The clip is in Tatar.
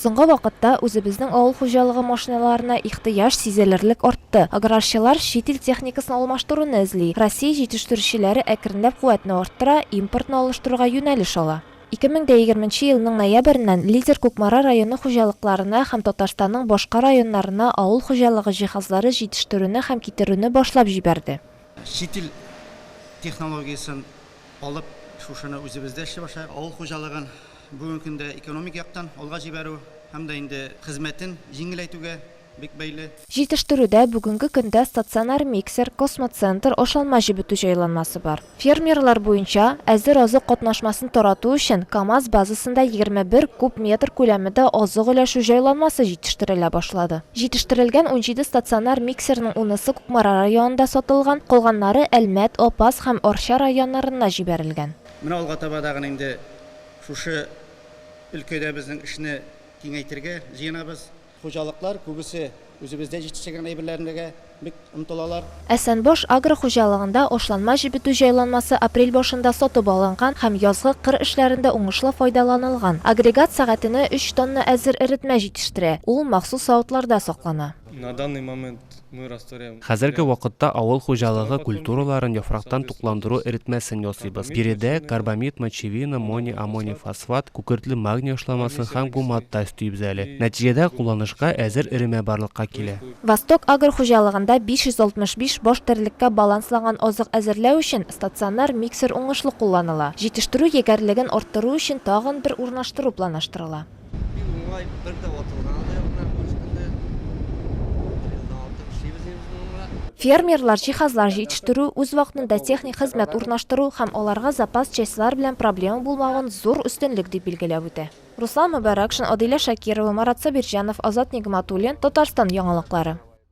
Соңгы вакытта үзебезнең авыл хуҗалыгы машиналарына ихтыяҗ сизелерлек артты. Аграрчылар чит ил техникасын алмаштыруны эзли. Россия җитештерүчеләре әкренләп куәтне арттыра, импортны алыштыруга юнәлеш ала. Ике мең дә егерменче елның ноябреннән Лидер Кукмара районы хуҗалыкларына һәм Татарстанның башка районнарына авыл хуҗалыгы җиһазлары җитештерүне һәм китерүне башлап җибәрде. Чит ил технологиясен алып, шушыны үзебездә эшли башлый авыл хуҗалыгын. Бүгенге көндә экономик яктан алга җибәрү һәм дә инде хезмәтен җиңеләйтүгә бик бәйле. Җитештерүдә бүгенге көндә стационар миксер, космоцентр, ашалма җебетү җайланмасы бар. Фермерлар буенча әзер азык катнашмасын тарату өчен КАМАЗ базасында егерме бер куб метр күләмедә азык өләшү җайланмасы җитештерелә башлады. Җитештерелгән унҗиде стационар миксерның унысы Кукмара районында сатылган, калганнары Әлмәт, Апас һәм Арча районнарына җибәрелгән. Менә алга таба да гына инде шушы өлкәдә безнең эшне киңәйтергә җыенабыз. Хуҗалыклар күбесе үзебездә җитештергән әйберләрнергә бик омтылалар. Әсәнбаш агро хуҗалыгында ашланма җебетү җайланмасы апрель башында сатып алынган һәм язгы кыр эшләрендә уңышлы файдаланылган. Агрегат сәгатенә өч тонна әзер эретмә җитештерә, ул махсус савытларда саклана. На данный момент Хәзерге вакытта авыл хуҗалыгы культураларын яфрактан тукландыру эретмәсен ясыйбыз. Биредә карбамид, мочевина, мони, амоний фосфат, күкертле магний ашламасын һәм гумат та өстибез әле. Нәтиҗәдә кулланышка әзер эремә барлыкка килә. Восток Агро хуҗалыгында 565 баш терлеккә балансланган азык әзерләү өчен стационар миксер уңышлы кулланыла. Җитештерү егәрлеген арттыру өчен тагын бер урнаштыру планлаштырыла. Бик уңай, бер дә ватылганы да юк менә бу җирдә. Елдан алты эшлибез инде без монда. Фермерлар җиһазлар җитештерү, үзвакытында техник хезмәт урнаштыру һәм аларга запас частьлар белән проблема булмавын зур үстенлек дип билгеләп үтә. Руслан Мөбәрәкшин, Адилә Шакирова, Марат Сабирҗанов, Азат Нигъмәтуллин, Татарстан яңалыклары.